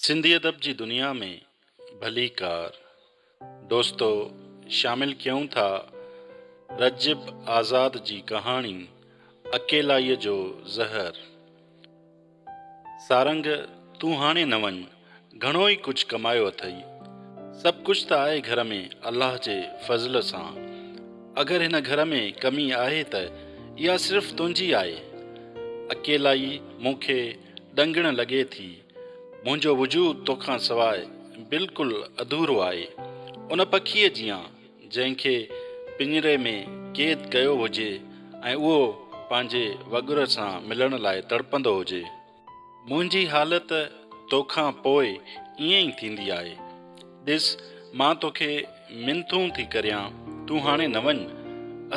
سنڌي ادب جي دنيا ۾ ڀليڪار دوستو شامل ڪيون ٿا رجب آزاد جي ڪهاڻي اڪيلائيء جو زهر. سارنگ تون هاڻي نه وڃ گهڻو ئي ڪجهه ڪمايو اٿئي. سڀ ڪجهه ته آهي گهر ۾ الله جي فضل سان. اگر هن گهر ۾ ڪمي آهي ته اها صرف تنهنجي آهي. اڪيلائي مون کي ڏنگڻ لڳي ٿي. منهنجو وجود توکان سواء بلڪل اڌورو آهي. ان پکيء جيان، جنهن کي پڃري ۾ قيد ڪيو هجي ۽ اهو پنهنجي وڳر سان ملڻ لاء تڙپندو هجي. منهنجي حالت توکان پوء ائين ئي ٿيندي آهي. ڏس، مان توکي منٿون ٿي ڪريان، تون هاڻي نه وڃ.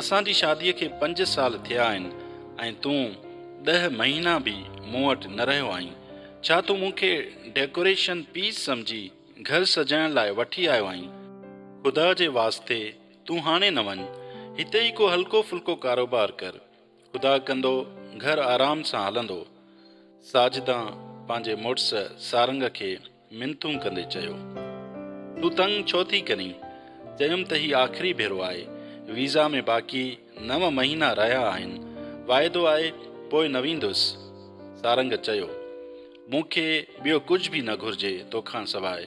اسان جي شاديء کي پنج سال ٿيا آهن ۽ تون ڏهه مهينا به مون وٽ نه رهيو آهين. ڇا تون مون کي ڊيڪوريشن پيس سمجهي گهر سجائڻ لاء وٺي آيو آهين؟ خدا جي واسطي تون هاڻي نه وڃ. هتي ئي ڪو هلڪو ڦلڪو ڪاروبار ڪر. خدا ڪندو گهر آرام سان هلندو. ساجدان پنهنجي مڙس سارنگ کي منتون ڪندي چيو. تون تنگ ڇو ٿي ڪرين؟ چيم ته هي آخري ڀيرو آهي. ويزا ۾ باقي نو مهينا رهيا آهن. واعدو آهي پوء نه ويندس. سارنگ چيو. مون کي ٻيو ڪجهه به نه گهرجي توکان سواء.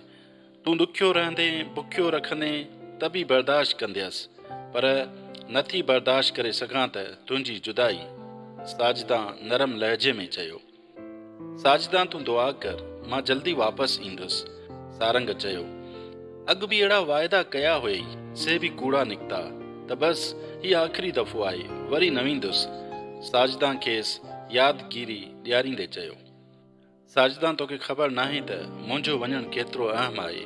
تون ڏکيو رهندين، بکيو رکندين ته به برداشت ڪنديس، پر نه ٿي برداشت ڪري سگهان ته تنهنجي جدائي. ساجدان نرم لهجي ۾ چيو. ساجدا تون دعا ڪر، مان جلدي واپس ايندس. سارنگ چيو، اڳ به اهڙا واعدا ڪيا هئي، سي به ڪوڙا نڪتا ته بس هي آخري دفعو آهي، وري نه ويندس. ساجدا کيس ياد گيري ڏياريندي چيو، ساجدا توکي خبر ناهي ته منهنجو وڃڻ ڪيترو اهم آهي.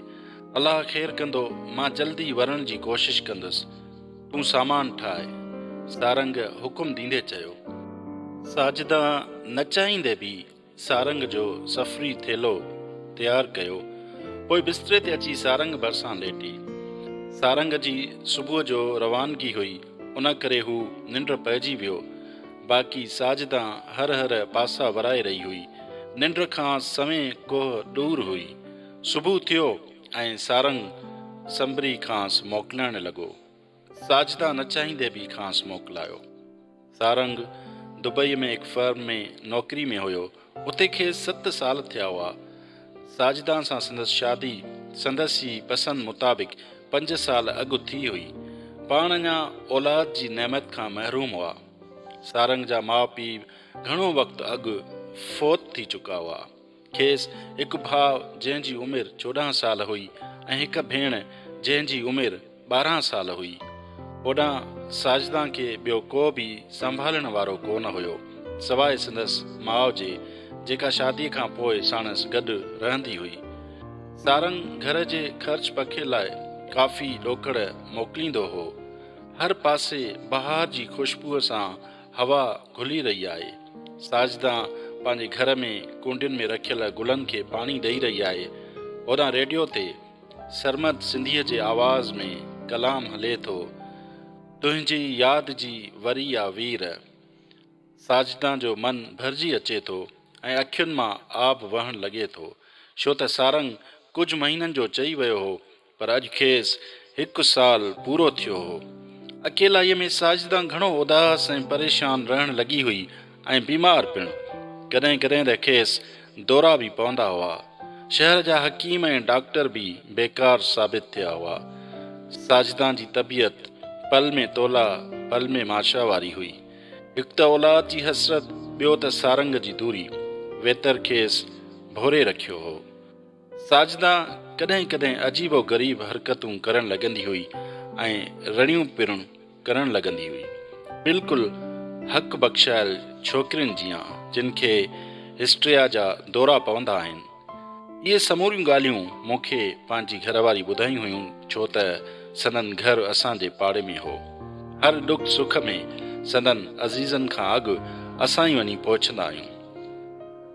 الله خير ڪندو، مان جلدي ورڻ جي ڪوشش ڪندس. تون سامان ٺاهه. سارنگ حڪم ڏيندي چيو. ساجده نه چاهيندي به سارنگ جو سفري ٿيلهو تيار ڪيو. پوء بستري تي اچي سارنگ ڀرسان ليٽي. سارنگ جي صبح جو روانگي هئي، ان ڪري هو ننڊ پئجي ويو. باقي ساجده هر هر پاسا ورائي رهي هئي. ننڊ کان سوين ڪوهه ڏور هئي. صبح ٿيو. ۽ سارنگ سنبري کانئس موڪلائڻ لڳو. ساجده نه چاهيندي به کانئس موڪلايو. سارنگ دبئي ۾ هڪ فرم ۾ نوڪري ۾ هيو. اتي کيس ست سال ٿيا هئا. ساجده سان سندس شادي سندس ئي پسند مطابق پنج سال اڳ ٿي هئي. پاڻ اڃا اولاد جي نعمت کان محروم هئا. سارنگ جا ماء پيء گهڻو وقت اڳ فوت ٿي چڪا هئا. کيس هڪ ڀاء جنهن جي عمر چوڏهن سال هئي ۽ هڪ ڀيڻ جنهن جي عمر ٻارهن سال هئي. هوڏانهن ساجدان کي ٻيو ڪو به سنڀالڻ وارو ڪو نه هيو سواء سندس ماء جي جيڪا شاديء کان پوء ساڻس گڏ رهندي هئي. سارنگ گهر جي خرچ پکي لاء ڪافي ڏوڪڙ موڪليندو هو. هر پاسي بهار جي خوشبوء سان هوا گهلي رهي آهي. ساجده پنهنجي گهر ۾ ڪونڊين ۾ رکيل گلن کي پاڻي ڏئي رهي آهي. هوڏانهن ريڊيو تي سرمد سنڌيء جي آواز ۾ ڪلام هلي ٿو، تنهنجي ياد جي وري آ وير. ساجده جو من ڀرجي اچي ٿو ۽ اکين مان آب وهڻ لڳي ٿو، ڇو ته سارنگ ڪجهه مهينن جو چئي ويو هو پر اڄ کيس هڪ سال پورو ٿيو هو. اڪيلائيء ۾ ساجده گهڻو اداس ۽ پريشان رهڻ لڳي هئي ۽ بيمار پڻ. ڪڏهن ڪڏهن ته کيس دورا به پوندا هئا. شهر جا حڪيم ۽ ڊاڪٽر به بيڪار ثابت ٿيا هئا. ساجده جي طبيعت پل ۾ تولا، پل ۾ ماشا واري هئي. هڪ ته اولاد جي حسرت، ٻيو ته سارنگ جي دوري، ويتر کيس ڀوري رکيو هو. ساجده ڪڏهن ڪڏهن عجيب و غريب حرڪتون ڪرڻ لڳندي هئي ۽ رڙيون پرڻ ڪرڻ لڳندي هئي. بلڪل حق بخشايل ڇوڪرين جيان جن کي هسٽريا جا دورا پوندا آهن. اهي سموريون ڳالهيون مون کي پنهنجي گهر واري ٻڌايون هيون ڇو ته سندن گهر اسان جي پاڙي ۾ هو. هر ڏک سک ۾ سندن عزيزن کان اڳ اسان ئي وڃي پهچندا آهيون.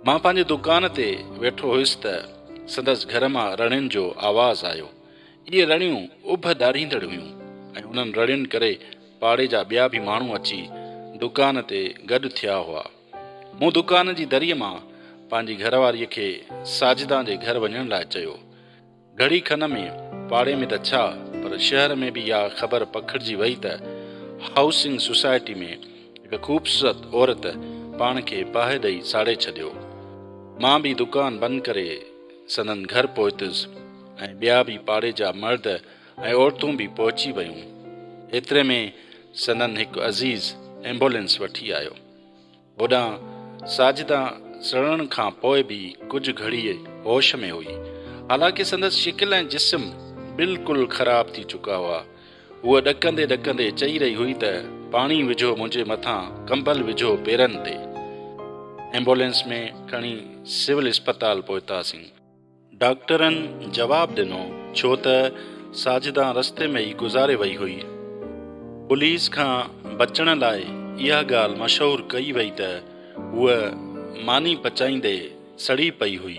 مان پنهنجي دڪان تي ويٺو هيس ته سندس گهر مان رڙين جو آواز آيو. اهي رڙيون اڀ ڏاريندڙ هيون ۽ انهن رڙين ڪري پاڙي جا ٻيا به ماڻهو اچي دڪان تي گڏ ٿيا هئا. مون دڪان جي دريء مان پنهنجي گهرواريء کي ساجدان جي گهر وڃڻ لاء چيو. گهڙي کن ۾ پاڙي ۾ ته ڇا پر شهر ۾ به اها خبر پکڙجي وئي ته هائوسنگ سوسائٽي ۾ هڪ خوبصورت عورت پاڻ کي باهه ڏئي ساڙي ڇڏيو. مان به دڪان بند ڪري سندن گهر پهتس ۽ ٻيا به پاڙي جا مرد ۽ عورتون به پهچي ويون. ايتري ۾ سندن هڪ عزيز ايمبولينس وٺي آيو. هوڏانهن ساجده سڙڻ کان پوء به ڪجهه گهڙيء هوش ۾ هئي. حالانڪه سندس شڪل ۽ جسم بلڪل خراب ٿي چڪا هئا. هوء ڏڪندي ڏڪندي چئي رهي هئي ته پاڻي وجهو منهنجي مٿان ڪمبل وجهو پيرن تي. ايمبولينس ۾ کڻي سول اسپتال پهتاسين. ڊاڪٽرن جواب ڏنو، ڇو ته ساجده رستي ۾ ئي گذاري وئي هئي. پوليس کان بچڻ لاء اها ڳالهه مشهور ڪئي وئي ته هوء ماني پچائيندي سڙي پئي هئي.